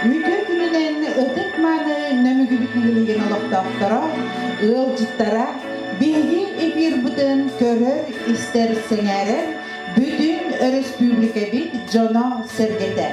Үтүө күнүнэн ытык-мааны Нөмүгүбүт нэһилигин олохтоохторо, ыалдьыттара, биһиги эфирбытын көрөр-истэр, сэҥээрэр бүтүн өрөспүүбүлүкэбит дьоно-сэргэтэ.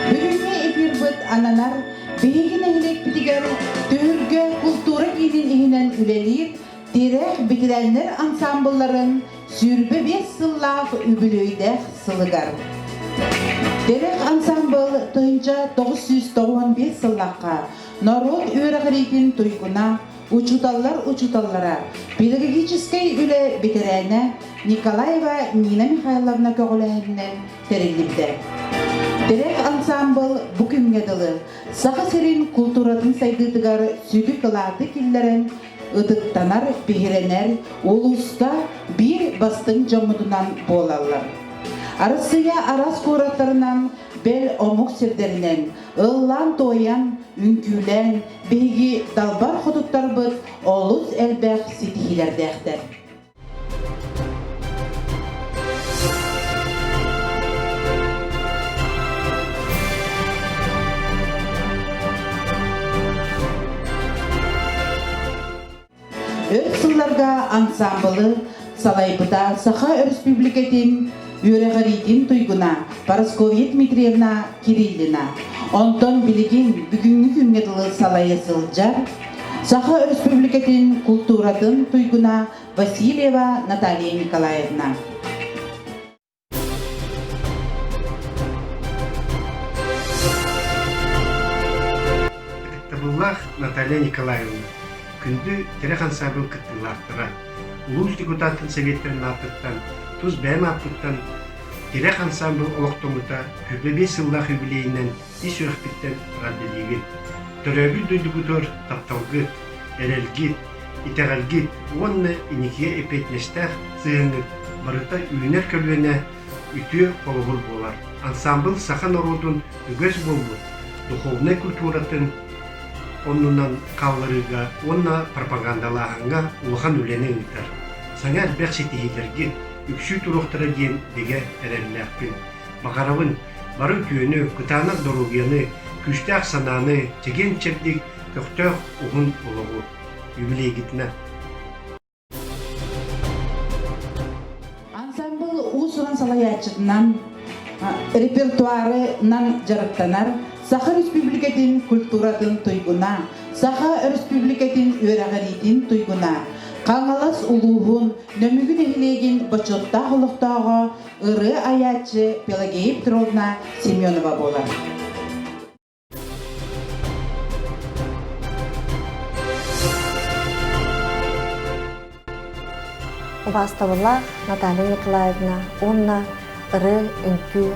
Бүгүҥҥү эфирбыт ананар биһиги нэһилиэкпитигэр түһүлгэ култуура киинин иһинэн үлэлиир Тирэх Битирэннэр ансаамбылларын сүүрбэ биэс сыллаах үбүлүөйдээх сылыгар. Тирэх ансаамбыл тыһынча тоҕус сүүс тоҕуон биэс сыллахха норуот үөрэҕириитин туйгуна, учууталлар учууталлара, педагогическай үлэ бэтэрээнэ Николаева Нина Михайловна көҕүлээһининэн тэриллибитэ. Тирэх ансаамбыл бу күҥҥэ дылы Саха сирин култууратын сайдыытыгар сүдү кылааты киллэрэн ытыктанар, биһирэнэр улууска биир бастыҥ дьоммутунан буолаллар. Арассыыйа араас куораттарынан, бэл омук сирдэринэн ыллаан-туойан, үҥкүүлээн, биһиги далбар хотуттарбыт олус элбэх ситиһиилэрдээхтэр. өр сылларга ансаамбылы салайбыта Саха Өрөспүүбүлүкэтин үөрэҕириитин туйгуна Парасковья Дмитриевна Кириллина. Онтон билигин бүгүҥҥү күҥҥэ дылы салайа сылдьар Саха Өрөспүүбүлүкэтин култууратын туйгуна Васильева Наталья Николаевна. Ытыктабыллаах Наталья Николаевна, күндү тирэх ансаабыл кыттыылаахтара! улуус депутатын сэбиэтинэн ааттыктан тус бэйэм ааппыттан тирэх ансаамбыл олохтоммута күбэ биэс сыллаах юбилейынан ис үрэхпиттэн эҕэрдэлиибин төрөөбүт дойдубутугар тапталгыт эрэлгит итэҕэлгит уонна иникигэ эппиэтинэстээх сыһыаҥҥыт барыта үүнэр көлүөнэ үтүө холобур буолар. Ансаамбыл саха норуотун үгэс буолбут духовнай культуратын оннунан хаалларыыга уонна пропагандалааһыҥҥа улахан үлэни ыытар. Саҥа элбэх ситиһиилэргит үксүү туруохтара диэн бигэ эрэллээхпин. Баҕарабын бары үтүөнү, кытаанах доруобуйаны, күүстээх санааны, чэгиэн-чэбдик, көхтөөх уһун олоҕу. Юбилейгитна! Ансамбыл уус-уран салайааччытынан репертуарынан дьарыктанар Саха Республикатын культуратын туйгуна, Саха Республикатын үөрэҕириитин туйгуна, Хаҥалас улууһун Нөмүгү нэһилиэгин бочуоттаах олохтооҕо, ырыа айааччы Пелагея Петровна Семенова буолар. убаастабыла Наталья Николаевна уонна ырыы, үҥкүү,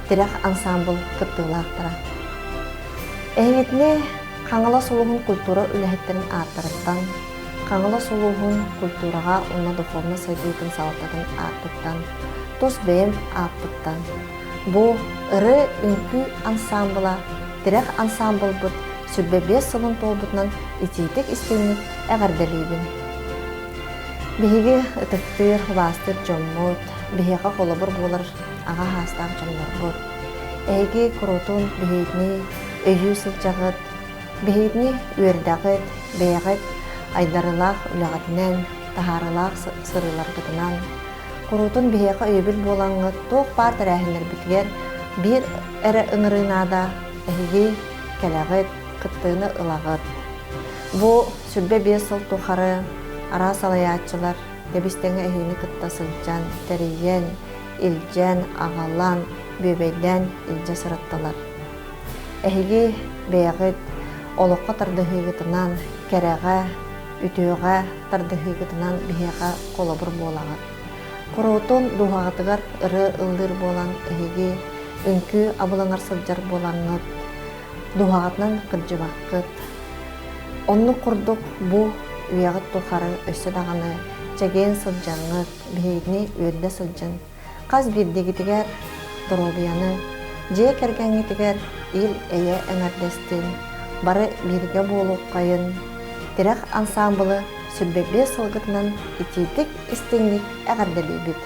тирэх ансаамбыл кыттыылаахтара. Эһиҥитини Хаҥалас улууһун культура үлэһиттэрин ааттарыттан, Хаҥалас улууһун культураҕа уонна духовнай сайдыытын салалтатын ааттыттан, тус бэйэм ааппыттан, Бу ырыа-үҥкүү ансаамбыла тирэх ансаамбылбыт сүрбэ биэс сылын туолбутунан итиитик истиҥник эҕэрдэлиибин. Биһиги ытыктыыр, убаастыыр дьоммут, биһиэхэ холобур буолар аҕа хаастаах дьоннорбут. Эһиги куруутун биһигини өйүү сылдьаҕыт, биһигини үөрдэҕит, бэйэҕит айдарылаах үлэҕитинэн, таһаарылаах сырыыларгытынан Куруутун биһиэхэ өйөбүл буолаҥҥа туох баар тэрээһиннэрбитигэр биир эрэ ыҥырыы наада эһиги кэлэҕит, кыттыыны ылаҕыт. Бу сүрбэ биэс сыл тухары араас салайааччылар тэбис-тэҥэ эһиини кытта сылдьан, тэрийэн, илдьэн, аҕалан, бүөбэйдээн илдьэ сырыттылар. Эһиги бэйэҕит олоххо тардыһыыгытынан кэрэҕэ, үтүөҕэ тардыһыыгытынан биһиэхэ холобур буолаҕыт. Куруутун дууһаҕытыгар ыры ыллыыр буолан, эһиги үҥкүү абыланар сылдьар буолаҥҥыт, дууһаҕытынан кырдьыбаккыт. Оннук курдук бу үйэҕит тухары өссө даҕаны чэгиэн сылдьаҥҥыт, биһигини үөрдэ сылдьыҥ. Хас биирдигитигэр доруобуйаны, дьиэ кэргэҥҥитигэр ил-эйэ эҥэрдэстин, бары бииргэ буолуоххайын, тирэх ансаамбылы сүрбэ биэс сылгытынан итиитик, истиҥник эҕэрдэлиибит!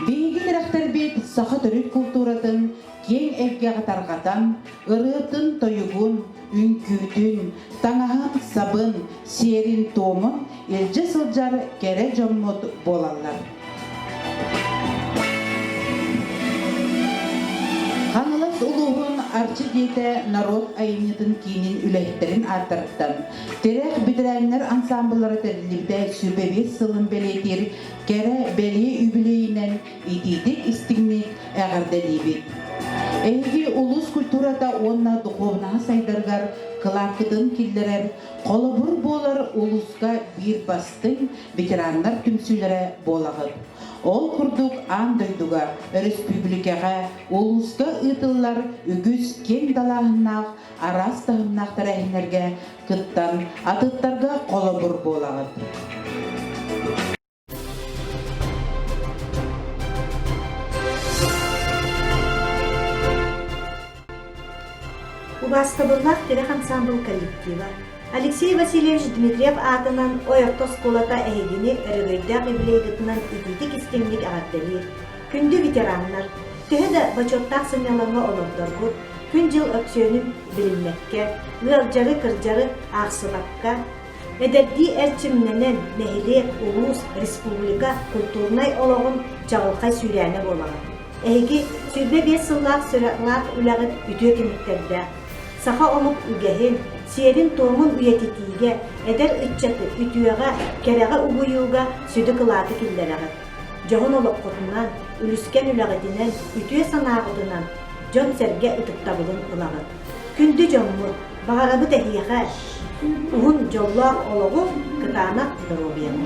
Биһиги тирэхтэрбит саха төрүт култууратын киэҥ эйгэҕэ тарҕатан, ырыатын-тойугун, үҥкүүтүн, таҥаһын-сабын, сиэрин-туомун илдьэ сылдьар кэрэ дьоммут буолаллар. Хаҥалас улууһун Арчы дьиэтэ норуот айымньытын киинин үлэһиттэрин ааттарыттан тирэх бэтэрээннэр ансаамбыллара тэриллибитэ сүбэ биэс сылын бэлиэтиир кэрэ бэлиэ үбүлүөйүнэн итиитик-истиҥник эҕэрдэлиибит! Эһиги улус культурата уонна духуобунаһа сайдарыгар кылаапкытын киллэрэр, холобур буолар улууска биир бастыҥ ветераннар түмсүүлэрэ буолаҕыт. Ол курдук аан дойдуга, өрөспүүбүлүкэҕэ, улууска ыытыллар үгүс киэҥ далааһыннаах араас таһымнаахтары эһинэргэ кыттан атыттарга холобур буолаҕыт. Убаастабыллаах тирэх ансамбыл коллектива Алексей Васильевич Дмитриев аатынан Ойорто оскуолата эһигини өрөгөйдөөх привилегитынан итиитик-истиҥник эҕэрдэлиир Күндү ветераннар! Төһө да бочуоттаах сынньалаҥҥа олордоргут, күн-дьыл өксүөнүн билиммэккэ, ыалдьары-кырдьары аахсыбакка, эдэрдии эрчимнэнэн, нэһилиэк, улуус, республика культурнай олоҕун чаҕылхай сүүрээнэ буолаҕын. Эһиги сүүрбэ биэс сыллаах сүрэҕлээх үлэҕит үтүө түмүктэрдээх. Саха омук үгэһин, сиэрин-туомун үйэтитиигэ, эдэр ыччаты үтүөҕэ, кэрэҕэ угуйууга сүдү кылааты киллэрэҕит. дьоһун олоххутунан, үлүскэн үлэҕитинэн, үтүө санааҕытынан дьон-сэргэ ытыктабылын ылаҕыт. Күндү дьоҥҥут, баҕарабыт эһиэхэ уһун дьоллоох олоҕу, кытаанах доруобуйаны.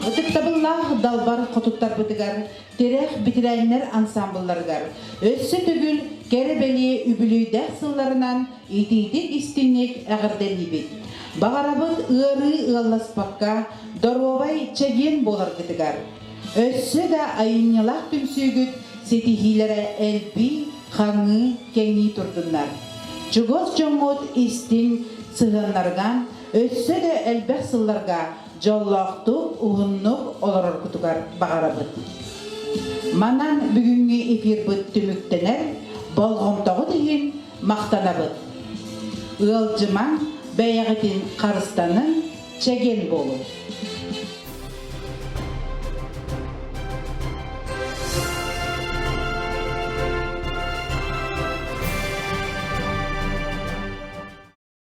Ытыктабыллаах Далбар Хотуттарбытыгар Тирэх битирээннэр ансаамбылларыгар өссө төгүл кэрэ-бэлиэ үбүлүөйдээх сылларынан итиитик-истиҥник эҕэрдэлиибит! Баҕарабыт ыарыы ыалласпакка доруобай чэгиэн буоларгытыгар! Өссө да айымньылаах түмсүүгүт ситиһиилэрэ элбии, хаҥыы, кэҥии турдуннар! Чугас дьоҥҥут истиҥ сыһыаннарыган Өссө да элбэх сылларга дьоллоохтук, уһуннук олороргутугар баҕарабыт. Манан бүгүҥҥү эфирбыт түмүктэнэр болҕомтоҕут иһин махтанабыт. Ыалдьымаҥ, бэйэҕитин харыстаныҥ, чэгиэн буолуҥ.